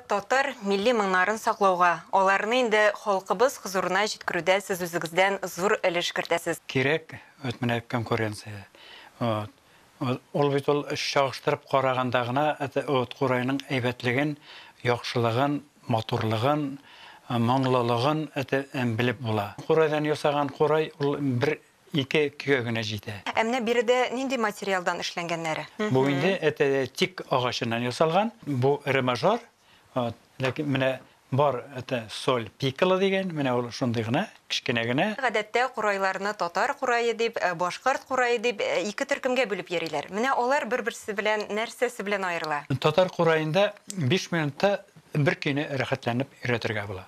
Татар милли моңнарын саклауга, аларны инде халкыбыз хозурына җиткерүдә сез үзегездән зур өлеш кертәсез. Кирәк вот менә конкуренция. Вот. Ул бит ул чагыштырып караганда гына вот курайның әйбәтлеген, яхшылыгын, матурлыгын, моңлылыгын белеп була. Курайдан ясаган курай ул бер Ике кө генә җитә. Ә менә биредә нинди материалдан эшләнгәннәре? Бу инде это тик агачыннан ясалган. Бу ре мажор, вот, ләкин менә бар это соль пикколо дигән, менә ул шундый гына, кечкенә генә. Гадәттә курайларны татар курае дип, башкорт курае дип ике төркемгә бүлеп йөриләр. Менә алар бер-берсе белән нәрсәсе белән аерыла? Татар кураенда биш минутта бер көйне рәхәтләнеп өйрәтергә була.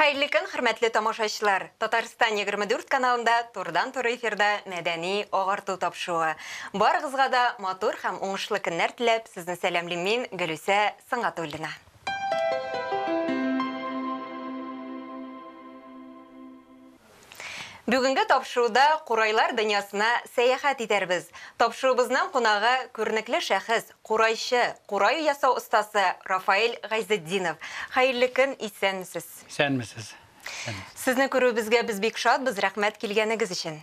Хәерле көн, хөрмәтле тамашачылар! Татарстан 24 каналында турыдан-туры эфирда мәдәни агарту тапшыруы. Барыгызга да матур һәм уңышлы көннәр теләп, сезне сәламлим мин, Гөлүсә Сынгатуллина. Бүгенге тапшыруда курайлар дөньясына сәяхәт итәрбез. Тапшыруыбызның кунагы, күренекле шәхес, курайчы, курай ясау остасы Рафаэль Гайзетдинов. Хәерле көн, исәнмесез! Исәнмесез! Сезне күрүебезгә без бик шатбыз, рәхмәт килгәнегез өчен!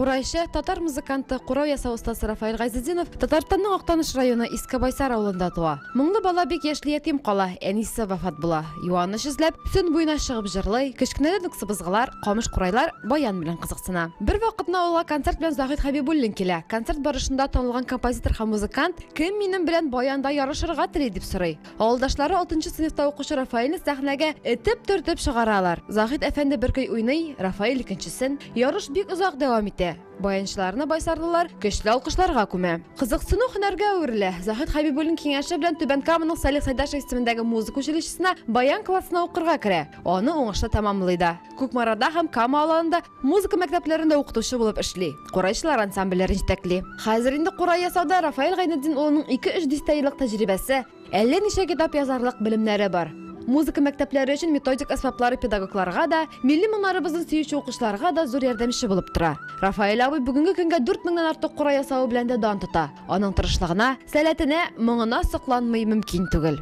Курайчы, татар музыканты, курау ясау остасы Рафаэль Гайзетдинов Татарстанның Актаныш районы Иске Байсар авылында туа. Моңлы бала бик яшьли ятим кала, әнисе вафат була. Юаныч эзләп, Сөн буена чыгып җырлый, кечкенәдән үк сыбызгылар, камыш курайлар, баян белән кызыксына. Бервакытны авылга концерт белән Заһит Хәбибуллин килә. Концерт барышында танылган композитор һәм музыкант, Кем минем белән баянда ярышырга тели? дип сорый. Авылдашлары алтынчы сыйныфта укучы Рафаэльне сәхнәгә этеп төртеп чыгаралар. Заһид әфәнде бер көй уйный, Рафаэль икенчесен. Ярыш бик озак дәвам итә. Баянчыларны байсарлылар көчле алкышларга күмә. Кызыксыну һөнәргә әверелә. Заһид Хәбибуллин киңәше белән Түбән Каманың Салих Сайдашев исемендәге музыка училищесына баян классына укырга керә. Аны уңышлы тәмамлый да. Кукмарада һәм Кама Аланында Музыка мәктәпләрендә укытучы булып эшли, курайчылар ансамбльләрен җитәкли. Хәзер инде курай ясауда Рафаэль Гайнетдин улының ике-өч дистә еллык тәҗрибәсе, әллә ничә китап язарлык белемнәре бар. Музыка мәктәпләре өчен методик әсбаплары педагогларга да, милли моңнарыбызны сөюче укучыларга да зур ярдәмче булып тора. Рафаэль абый бүгенге көнгә дүрт меңнән артык курай ясавы белән дә дан тота. Аның тырышлыгына, сәләтенә, моңына сокланмый мөмкин түгел.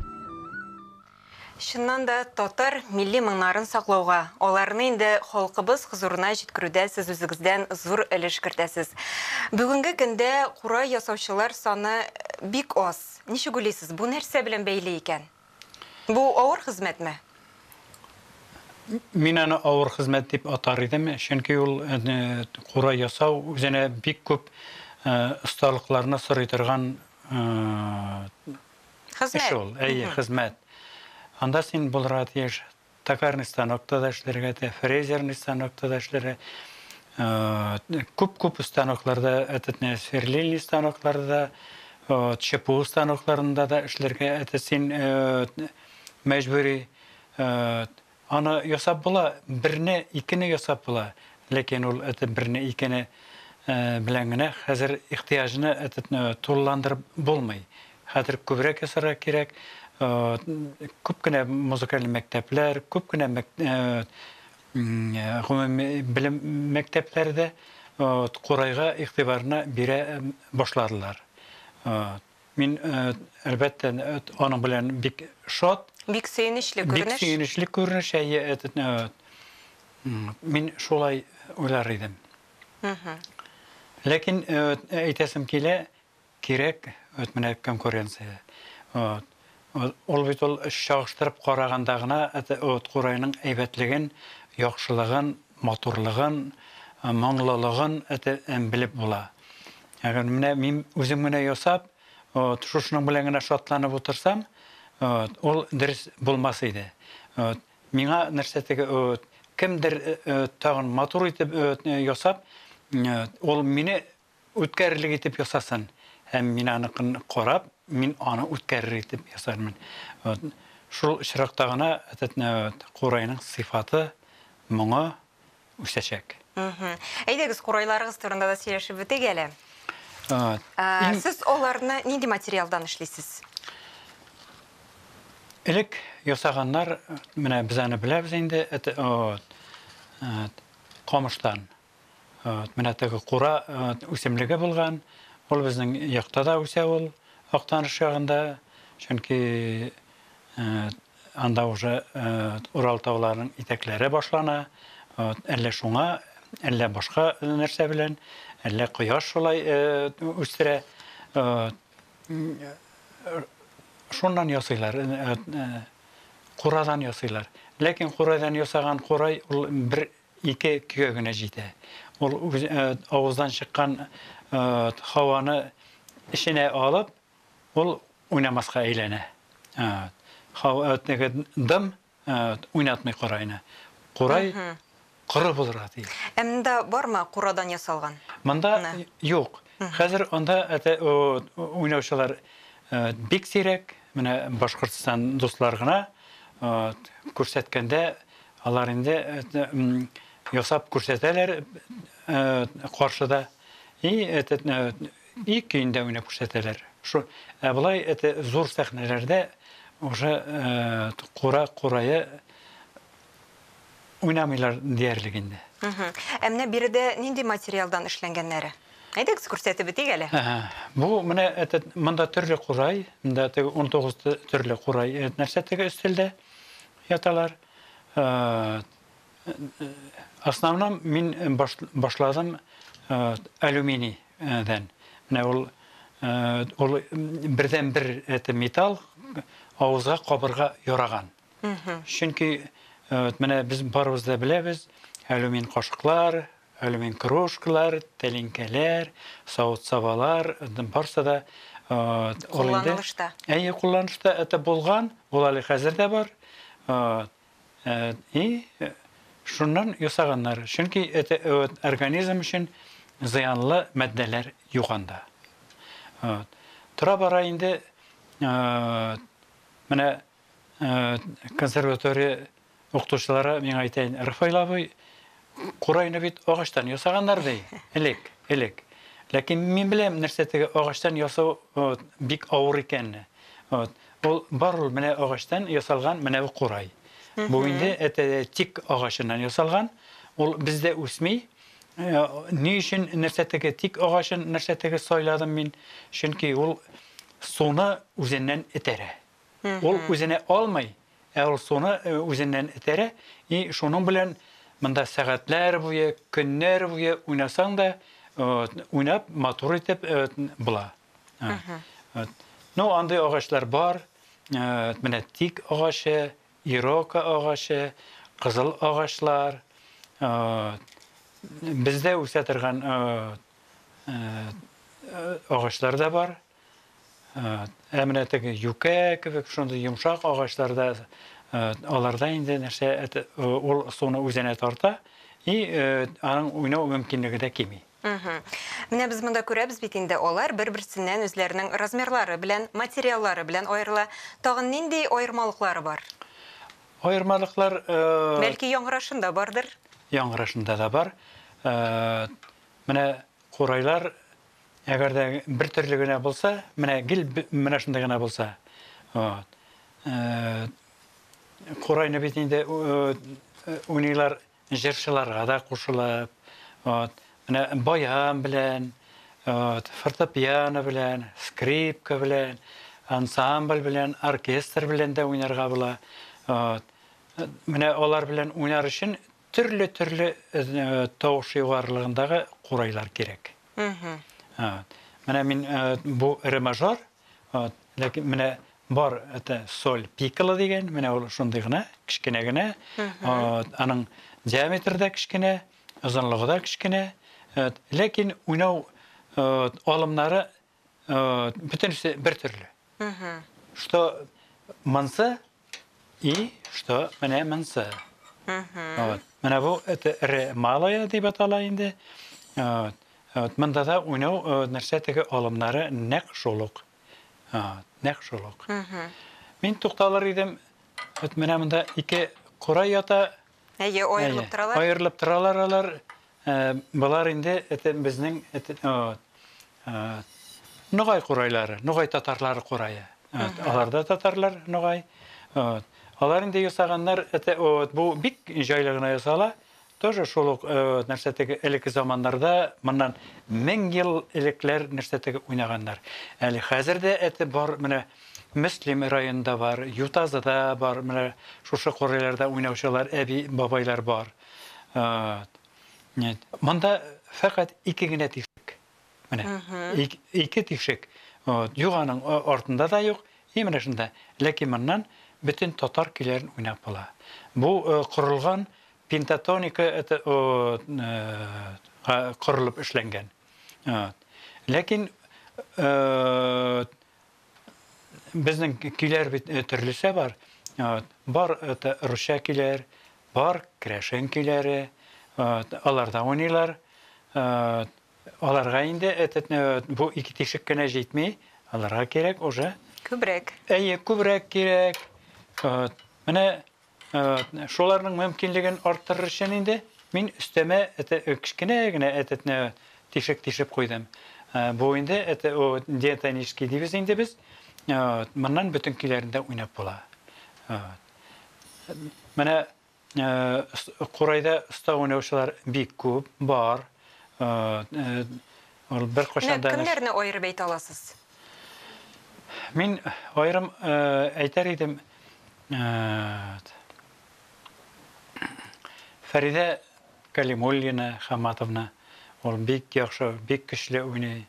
Чыннан да, татар милли моңнарын саклауга, аларны инде халкыбыз хозурына җиткерүдә сез үзегездән зур өлеш кертәсез. Бүгенге көндә курай ясаучылар саны бик аз. Ничек уйлыйсыз, бу нәрсә белән бәйле икән? Бу авыр хезмәтме? Мин аны авыр хезмәт дип атар идем, чөнки ул курай ясау үзенә бик күп осталыкларны сорый торган Хезмәт. Эш ул, әйе, хезмәт. Анда син булырга тиеш токарный станокта да эшләргә, фрезерный станокта да эшләргә. Күп-күп станокларда, этот не сверлильный станокларда, ЧПУ станокларында да эшләргә, это син мәҗбүри Аны ясап була, берне, икене ясап була, ләкин ул это берне, икене белән генә хәзер ихтыяҗны этетне тулыландырып булмый. Хәзер күбрәк ясарга кирәк, күп кенә музыкаль мәктәпләр, күп кенә гомуми белем мәктәпләре дә Курайга игътибарны бирә башладылар. Мин, әлбәттә, аның белән бик шат. Бик сөенечле күренеш. Бик сөенечле күренеш, әйе, этот, мин шулай уйлар идем. Ләкин әйтәсем килә, кирәк, вот менә конкуренция. Вот. Ул бит ул чагыштырып караганда гына Уткурайның әйбәтлеген, яхшылыгын, матурлыгын, моңлылыгын белеп була. Менә мин үзем генә ясап, шушының белән генә шатланып утырсам, ул дөрес булмас иде. Миңа нәрсә теге, кемдер тагын матур итеп ясап, ул мине үткәрерлек итеп ясасын, һәм мин аныкын карап, мин аны үткәрерлек итеп ясармын. Вот. Шул очракта гына этот э, вот, курайның сыйфаты, моңы үсәчәк. Мгм. Әйдәгез, курайларыгыз турында да сөйләшеп бетик әле. Вот. Ә, Иң- Сез аларны нинди материалдан эшлисез? Элек ясаганнар, менә без аны беләбез инде, это, вот, вот, камыштан. Вот, менә теге кура үсемлеге булган. Ул безнең якта да үсә ул, Актаныш ягында. Чөнки анда уже Урал тауларының итәкләре башлана. Вот, әллә шуңа, әллә башка нәрсә белән, әллә кояш шулай үстерә. Шуннан ясыйлар, курадан ясыйлар. Ләкин курадан ясаган курай ул бер Ике көгә генә җитә. Ул авыздан чыккан һаваны эченә алып, ул уйнамаска әйләнә. Теге дым уйнатмый курайны. Курай коры булырга тиеш. Ә монда бармы курадан ясалган? Монда юк. Хәзер анда уйнаучылар бик сирәк. Менә Башкортстан дуслар гына күрсәткәндә Алар инде ясап күрсәтәләр каршыда и и көендә уйнап күрсәтәләр. Шул ә болай әтә зур сәхнәләрдә уже кура курая уйнамыйлар диярлек инде. Ә менә биредә нинди материалдан эшләнгәннәре? Әйдәгез күрсәтеп бетик әле. Бу менә әтә монда төрле курай, монда теге 19 төрле курай нәрсә теге өстәлдә. яталар основном мин башладым алюминий дән менә ул ул бердән бер это металл авызга кабырга яраган чөнки менә без барыбыз да беләбез алюмин кашыклар Алюмин кружкалар, тәлинкәләр, савыт-сабалар, барсы да ул инде. Кулланылышта. Әйе, кулланышта. Это булган, ул әле хәзер дә бар. И шуннан ясаганнар. Чөнки это организм өчен зыянлы матдәләр юк анда. Тора-бара инде менә консерватория Укытучылары, миңа әйтәен, Рафаил абый, курайны бит агачтан ясаганнар, ди, элек, элек. Ләкин мин беләм, нәрсә теге агачтан ясау бик авыр икәнне. Вот. Ул бар ул менә агачтан ясалган менә бу курай. Бу инде әтәдә тик агачыннан ясалган. Ул бездә үсми. Э, ни өчен нәрсә теге тик агачын нәрсә теге сайладым мин? Чөнки ул суны үзеннән этәрә. Ул үзенә алмый, ә ул суны үзеннән этәрә, и шуның белән монда сәгатьләр буе, көннәр буе уйнасаң да, уйнап, матур итеп була. Ну, андый агачлар бар, менә тик агачы, ирока агачы, кызыл агачлар, бездә үсә торган агачлар да бар. Ә менә теге юкә кебек шундый йомшак агачларда аларда инде нәрсә ул суны үзенә тарта и аның уйнау мөмкинлеге дә кими. Менә без монда күрәбез бит инде, алар бер-берсеннән үзләренең размерлары белән, материаллары белән аерыла. Тагын нинди аермалыклары бар? Аермалыклар... Бәлки яңгырашында бардыр? Яңгырашында да бар. Менә Курайлар, әгәр дә бер төрле генә булса, менә гел менә шундый гына булса, вот. Курайны бит инде уйныйлар җырчыларга да кушылып, вот. Менә баян белән, вот, фортепиано белән, скрипка белән, ансамбль белән, оркестр белән дә уйнарга була. Вот. Менә алар белән уйнар өчен Төрле-төрле тавыш югарылыгындагы курайлар кирәк. Менә мин бу ре мажор, ләкин менә бар это соль пикколо дигән, менә ул шундый гына, кечкенә генә. Аның диаметры да кечкенә, озынлыгы да кечкенә. Ләкин уйнау алымнары Э, бөтенесе бер төрле. Что манса и что менә манса. Вот. Менә бу это ре малая дип атала инде. Вот. Вот. Монда да уйнау э, нәрсә теге алымнары нәк шулык. Вот. Нәк шулык. Мин тукталыр идем. Вот менә монда ике кора ята, Әйе, аерылып торалар. Аерылып торалар алар. Болар инде безнең Ногай курайлары, Ногай татарлары курае. Алар да татарлар, Ногай. Алар инде ясаганнар, бу бик җайлы гына ясала. Тоже шул ук нәрсә теге элекке заманнарда, моннан 1000 ел элекләр нәрсә теге уйнаганнар. Әле хәзер дә әте бар, менә Мөслим районында бар, Ютазыда бар, менә шушы кырыйларда уйнаучылар, әби, бабайлар бар. Нет. Монда фәкать ике генә тишек. Менә. Ике тишек. Вот. Юганың артында да юк, и менә шунда. Ләкин моннан бөтен татар көйләрен уйнап була. Бу корылган пентатоника это корылып эшләнгән. Вот. Ләкин Безнең көйләр бит э, төрлесе бар. Бар это русча көйләр, бар крәшен көйләре, аларда уйныйлар. Аларга инде этот э, бу ике тишек кенә җитми, аларга кирәк уже. Күбрәк. Әйе, күбрәк кирәк. Менә Шуларның мөмкинлеген арттырыр өчен инде мин өстәмә кечкенә генә тишек тишеп куйдым. Бу инде диатонический дибез инде без. Моннан бөтен көйләрендә уйнап була. Менә курайда оста уйнаучылар бик күп, бар. Ул беркайчан да. Менә кемнәрне аерып әйтә аласыз? Мин аерым әйтәр идем, Фәридә Кәлимуллина Хамматовна, ул бик яхшы, бик көчле уйный.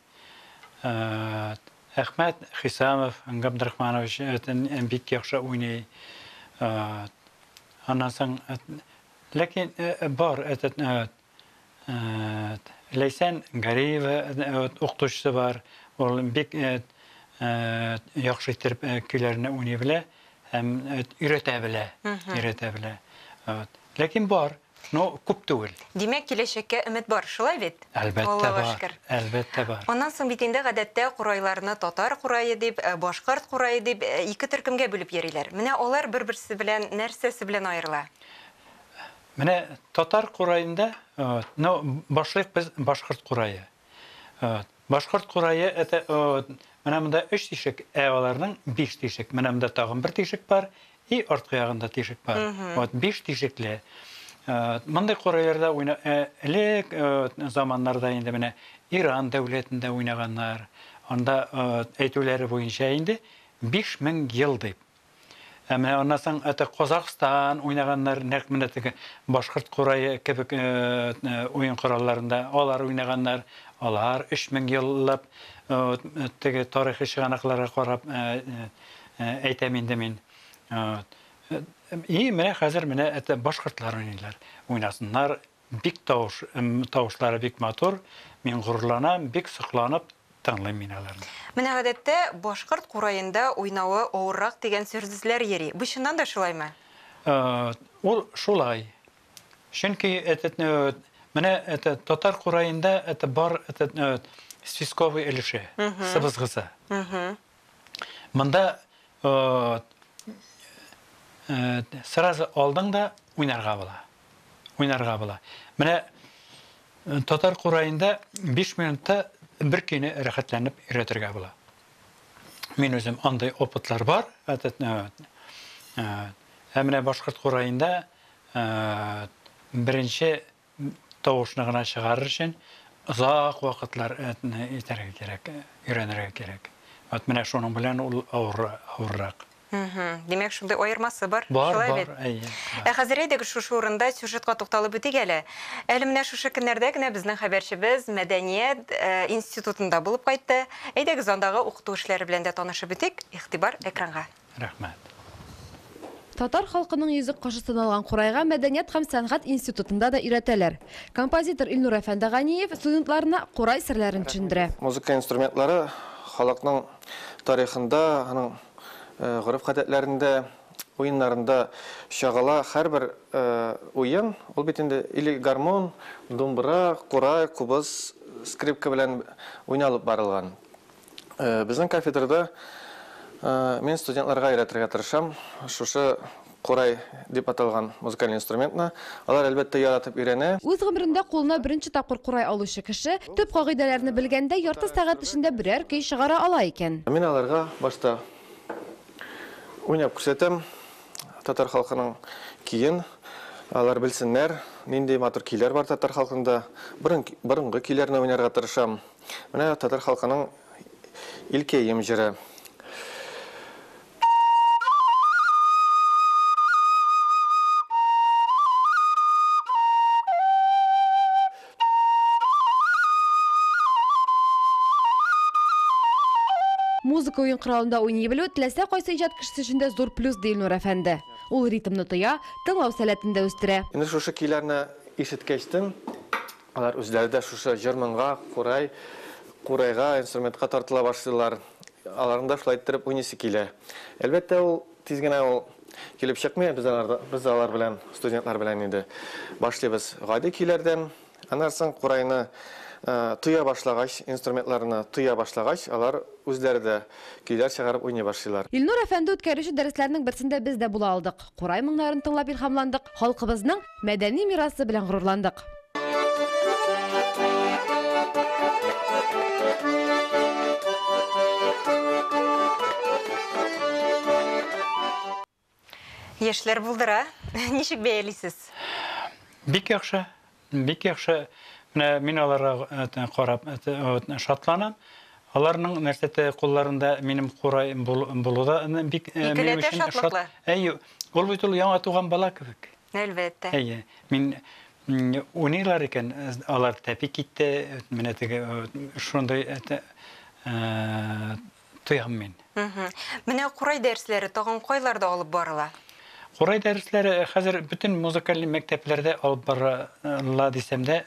Әхмәт Хисамов Габдрахманович бик яхшы уйный. Аннан соң, ләкин бар, этот, Ләйсән Гариева укытучысы бар. Ул бик яхшы итеп көйләрне уйный белә һәм өйрәтә белә. Өйрәтә белә. Ләкин бар, но күп түгел. Димәк, киләчәккә өмет бар, шулай бит? Әлбәттә бар. Әлбәттә бар. Аннан соң бит инде гадәттә курайларны татар курае дип, башкорт курае дип ике төркемгә бүлеп йөриләр. Менә алар бер-берсе белән нәрсәсе белән аерыла? Менә татар кураенда, ну, башлыйк без башкорт курае. Башкорт курае, это, менә монда өч тишек, ә аларның биш тишек. Менә монда тагын бер тишек бар, и арткы ягында тишек бар. Вот, биш тишекле. Мондый курайларда уйна, элек заманнарда инде менә Иран дәүләтендә уйнаганнар. Анда әйтүләре буенча инде 5000 ел дип. Ә менә аннан соң это Казахстан уйнаганнар, нәкъ менә теге башкорт курае кебек уен коралларында алар уйнаганнар. Алар 3000 еллап теге тарихи чыганакларга карап әйтәм инде мин. И менә хәзер менә это башкортлар уйныйлар. Уйнасыннар, Бик тавыш, тавышлары бик матур, мин горурланам, бик сокланып тыңлыйм мин аларны. Менә гадәттә башкорт кураенда уйнавы авыррак дигән сөрззләр йөри, бу чыннан да шулаймы? Ул шулай. Чөнки этот менә этот татар кураенда это бар этот свисковый өлеше, сыбызгысы. Монда сразу алдың да уйнарга була. Уйнарга була. Менә татар кураенда 5 минутта бер көйне рәхәтләнеп өйрәтергә була. Мин үзем андый опытлар бар. Ә менә башкорт кураенда беренче тавышны гына чыгарыр өчен озак вакытлар итәргә кирәк, өйрәнергә кирәк. Вот менә шуның белән ул авыррак. Димәк, шундый аермасы бар. Бар, бар, әйе. Ә хәзер әйдәгез шушы урында сюжетка тукталып үтик әле. Әле менә шушы көннәрдә генә безнең хәбәрчебез мәдәният институтында булып кайтты. Әйдәгез андагы укыту эшләре белән дә танышып үтик. Игътибар экранга. Рәхмәт. Татар халкының йөзек кашы саналган курайга мәдәният һәм сәнгать институтында да өйрәтәләр. Композитор Илнур әфәнде Ганиев студентларына курай серләрен төшендерә. Музыка инструментлары халыкның тарихында, аның гореф-гадәтләрендә, уеннарында чагыла. Һәрбер уен, ул бит инде или гармун, думбра, курай, кубыз, скрипка белән уйналып барылган. Безнең кафедрада мин студентларга өйрәтергә тырышам шушы курай дип аталган музыкаль инструментны. Алар, әлбәттә, яратып өйрәнә. Үз гомерендә кулына беренче тапкыр курай алучы кеше, төп кагыйдәләрне белгәндә, ярты сәгать эчендә берәр көй чыгара ала икән. Мин аларга башта уйнап күрсәтәм татар халкының көен. Алар белсеннәр, нинди матур көйләр бар татар халкында. Борын, борынгы көйләрне уйнарга тырышам. Менә татар халкының илкәем җыры. Музыка уен коралында уйный белү теләсә кайсы иҗат кешесе өчен дә зур плюс, ди Илнур әфәнде. Ул ритмны тоя, тыңлау сәләтен дә үстерә. Инде шушы көйләрне ишеткәчтен, Алар үзләре дә шушы җыр-моңга, курай, курайга, инструментка тартыла башлыйлар. Аларның да шулай иттереп уйныйсы килә. Әлбәттә, ул тиз генә ул килеп чыкмый, без аларда, без алар белән, студентлар белән инде башлыйбыз гади көйләрдән. Аннан соң курайны тоя башлагач, инструментларны тоя башлагач, алар үзләре дә Көйләр чыгарып уйный башлыйлар. Илнур әфәнде үткәрүче дәресләрнең берсендә без дә була алдык. Курай моңнарын тыңлап илһамландык, халкыбызның мәдәни мирасы белән горурландык. Яшьләр булдыра. Ничек бәялисез? Бик яхшы, бик яхшы. Менә мин аларга э, карап э, э, шатланам. Аларның нәрсәтә кулларында минем курай булуда бик минем өчен шат. Әйе, ул бит ул яңа туган бала кебек. Әлбәттә. Әйе, мин уйныйлар икән, алар тәпик итте, менә теге шундый тоям мин. Менә курай дәресләре тагын кайларда алып барыла? Курай дәресләре хәзер бөтен музыкаль мәктәпләрдә алып барыла дисәм дә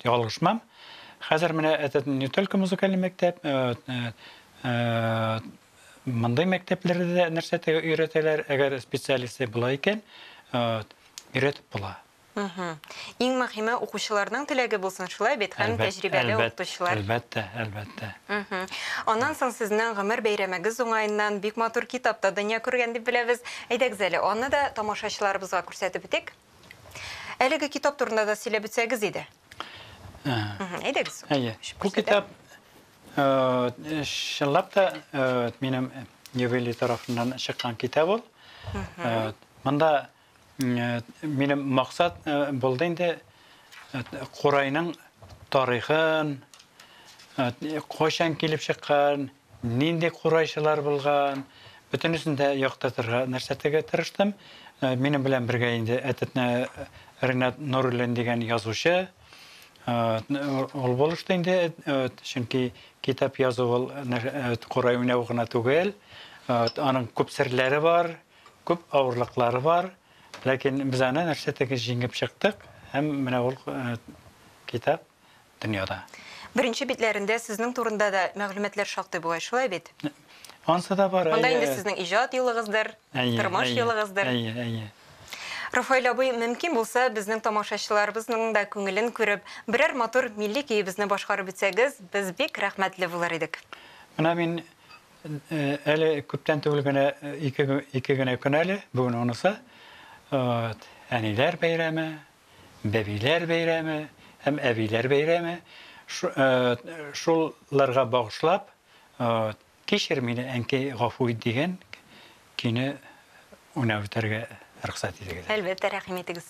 ялгышмам. Хәзер менә это не только музыкаль мәктәп, мондый мәктәпләрдә дә нәрсә өйрәтәләр, әгәр специалисты була икән, өйрәтеп була. Мхм. Иң мөхиме укучыларның теләге булсын, шулай бит, һәм Әлбәт, тәҗрибәле әлбәт, укытучылар. әлбәттә, әлбәттә. Мхм. Аннан соң сезнең гомер бәйрәмегез уңаеннан бик матур китап та дөнья күргән дип беләбез. Әйдәгез әле, аны да тамашачыларыбызга күрсәтеп үтик. Әлеге китап турында да сөйләп үтсәгез иде. Әһә. Мхм. Әйдәгез. Әйе. Ачып Бу күрсәтә. китап, э, чынлап та, э, минем юбилей тарафыннан чыккан китап ул. Э, Монда Минем максат булды инде курайның тарихын, кайчан килеп чыккан, нинди курайчылар булган, бөтенесен дә яктыртырга нәрсәтегә тырыштым. Минем белән бергә инде әтетне Ренат Нуруллин дигән язучы ул булышты инде, чөнки китап язу ул курай уйнау гына түгел, аның күп серләре бар. Күп авырлыклары бар, ләкин без аны нәрсә теге җиңеп чыктык һәм менә ул китап дөньяда. Беренче битләрендә сезнең турында да мәгълүматлар шактый бугай, шулай бит? Ансы да бар. Монда инде сезнең иҗат юлыгыздыр, тормыш юлыгыздыр. Әйе, әйе. Рафаэль абый, мөмкин булса, безнең тамашачыларыбызның да күңелен күреп, берәр матур милли көебезне башкарып үтсәгез, без бик рәхмәтле булыр идек. Менә мин Әле күптән түгел генә ике, ике генә көн әле, бүген онысы. Вот. Әниләр бәйрәме, бәбиләр бәйрәме һәм әбиләр бәйрәме. Шулларга багышлап, кичер мине әнкәй гафу ит дигән көйне уйнап үтәргә рөхсәт итегез. Әлбәттә, рәхим итегез.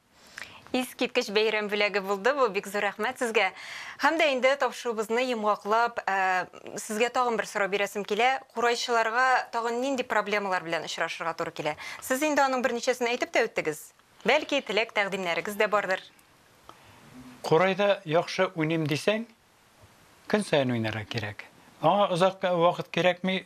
Искиткеч бәйрәм бүләге булды бу, бик зур рәхмәт сезгә. Һәм дә инде тапшыруыбызны йомгаклап, сезгә тагын бер сорау бирәсем килә, курайчыларга тагын нинди проблемалар белән очрашырга туры килә? Сез инде аның берничәсен әйтеп тә үттегез. Бәлки, теләк-тәкъдимнәрегез дә бардыр? Курайда яхшы уйныйм дисәң, көн саен уйнарга кирәк. Аңа озак вакыт кирәкми,